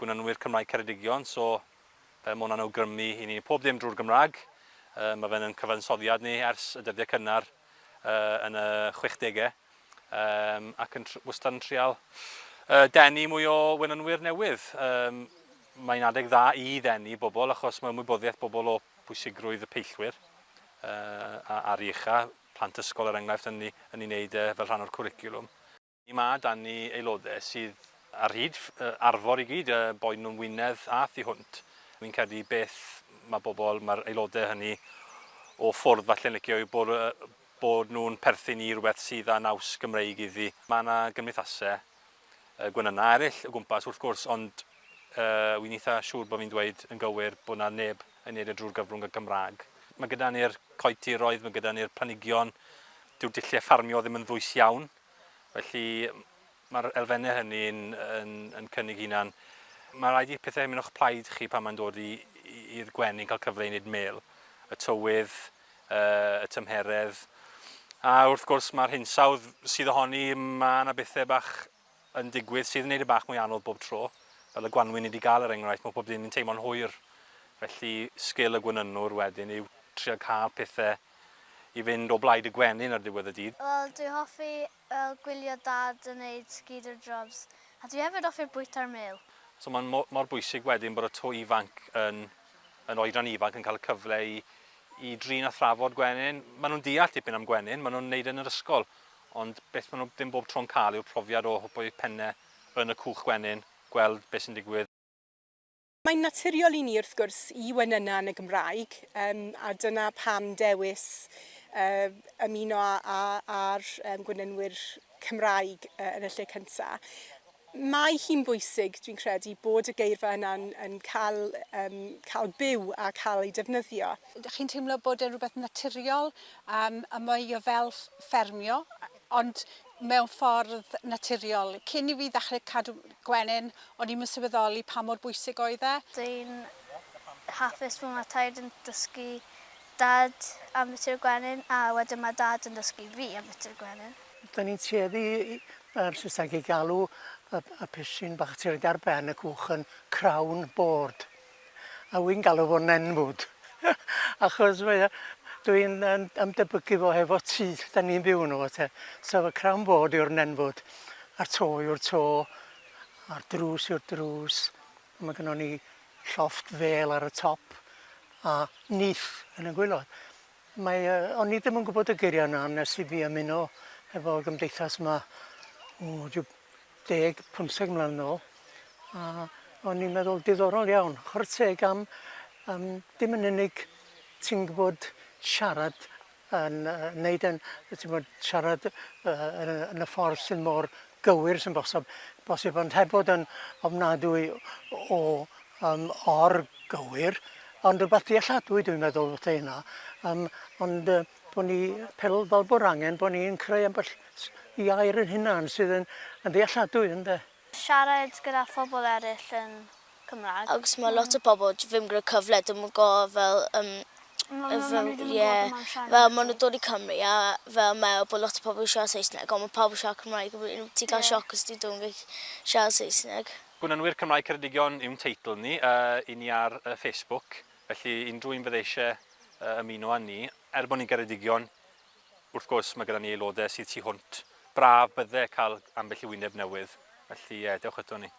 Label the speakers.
Speaker 1: Gwnanwyr Cymraeg Ceredigion, so yy ma' hwnna'n awgrymu i ni pob dim drwy'r Gymraeg. Yy ma' fe'n yn cyfansoddiad ni ers y dyddiau cynnar yy yn y chwechdegau yym ac yn tr- wastad yn trial yy denu mwy o wenanwyr newydd. Yym mae'n adeg dda i ddenu bobl achos mae ymwybyddiaeth bobl o bwysigrwydd y peillwyr Ar ei ucha, plant ysgol er enghraifft yn ei wneud e fel rhan o'r cwricwlwm. Mae 'da ni aelodau sydd ar hyd arfor i gyd, boed nhw'n Wynedd a thu hwnt. Fi'n credu beth mae bobl, mae'r aelodau hynny o ffwrdd falle'n licio yw bod nhw'n perthyn i rywbeth sydd â naws Gymreig iddi. Mae 'na gymdeithasau gwenynnau eraill o gwmpas wrth gwrs ond wi'n eitha' siŵr bod fi'n dweud yn gywir bod 'na neb yn neud e drwy'r gyfrwng y Gymraeg. Mae gyda ni'r coetiroedd, mae gyda ni'r planigion, dyw'r dulliau ffarmio ddim yn ddwys iawn, felly mae'r elfennau hynny yn, yn, yn cynnig hunan. Mae rhaid i pethau mynd o'ch plaid chi pan mae'n dod i'r gwenyn cael cyfle i wneud mel, y tywydd, uh, y tymheredd, a wrth gwrs mae'r hinsawdd sydd ohoni, mae yna bethau bach yn digwydd sydd yn neud e bach mwy anodd bob tro. Fel y gwanwyn ni 'di ga'l er enghraifft ma' pob dim yn teimlo'n hwyr. Felly sgil y gwenynwr wedyn yw trio ca'l pethe i fynd o blaid y gwenyn ar ddiwedd y dydd. Wel dwi hoffi
Speaker 2: fel gwylio dad yn neud skeeter jobs a dwi hefyd offi'r bwyta'r mêl. So ma'n mo- mor
Speaker 1: bwysig wedyn bod y to ifanc yn yn oedran ifanc yn ca'l y cyfle i i drin a thrafod gwenyn. Ma' nhw'n deall dipyn am gwenyn ma' nhw'n neud e yn yr ysgol Ond beth maen nhw ddim bob tro'n cael yw'r profiad o hwpo eu pennau yn y cwch gwenyn, gweld beth sy'n digwydd. Mae'n
Speaker 3: naturiol i ni wrth gwrs i wenyna yn y Gymraeg, yym a dyna pam dewis yy ymuno â â'r gwenynwyr Cymraeg yn y lle cynta'. Mae hi'n bwysig, dwi'n credu, bod y geirfa yna'n yn cael yym cael byw a cael ei defnyddio. Dych chi'n teimlo bod
Speaker 4: e'n rhywbeth naturiol yym a mae o fel ffermio ond mewn ffordd naturiol. Cyn i fi ddechrau cadw gwenyn o'n i'm yn sylweddoli pa mor bwysig oedd e. Dwi'n
Speaker 2: hapus fod mae taid yn dysgu Dad am fiti o'r gwenyn a wedyn mae Dad yn dysgu fi am fiti o'r gwenyn. Dan ni'n tueddu
Speaker 5: i, mae'r Saesneg i galw y, y pishyn bach sy'n rhaid ar ben y cwch yn crown board. A wy'n galw fo'n nenfwd. Achos mae e, dwi'n ymdebygu fo hefo tŷ da ni'n byw yn o te. So fy crown board yw'r nenfwd. A'r to yw'r to. A'r drws yw'r drws. Mae gynnon ni llofft fêl ar y top a nyth yn y gwaelod. Mae, uh, o'n i ddim yn gwybod y geiriau yna nes i fi ymuno efo gymdeithas yma o rhyw deg, pymtheg mlynedd yn ôl. A o'n i'n meddwl diddorol iawn. Chwarae teg am, am dim yn unig ti'n gwybod siarad yn wneud yn, ti'n bod, siarad yn y ffordd sy'n mor gywir sy'n bosib, bosib ond heb bod yn ofnadwy o um, or-gywir, ond rhywbeth dealladwy dwi'n meddwl wrth hynna, um, ond uh, bod ni pel fel bod angen bod ni'n creu ambell i air yn hynna sydd yn, yn ddealladwy, ynddo? Siarad gyda
Speaker 2: phobl eraill yn Cymraeg. Achos ma lot o bobl
Speaker 6: j- ddim gyda cyfle dim yn go fel yym ie fel ma nw dod i Cymru a fel me'wl bo lot o pobl yn siarad Saesneg on ma pawb yn siarad Cymraeg a wedyn ti'n ca'l sioc os ti ddim yn gallu siarad Saesneg. Gwnynwyr Cymraeg
Speaker 1: Ceredigion yw'n teitl ni, yy i ni ar yy Facebook, felly unrhyw un fydde isie yy ymuno â ni, er bo ni'n Geredigion, wrth gwrs, mae gyda ni aelodau sydd tu hwnt. Braf bydde cael ambell i wyneb newydd. Felly, ie, dewch eto ni.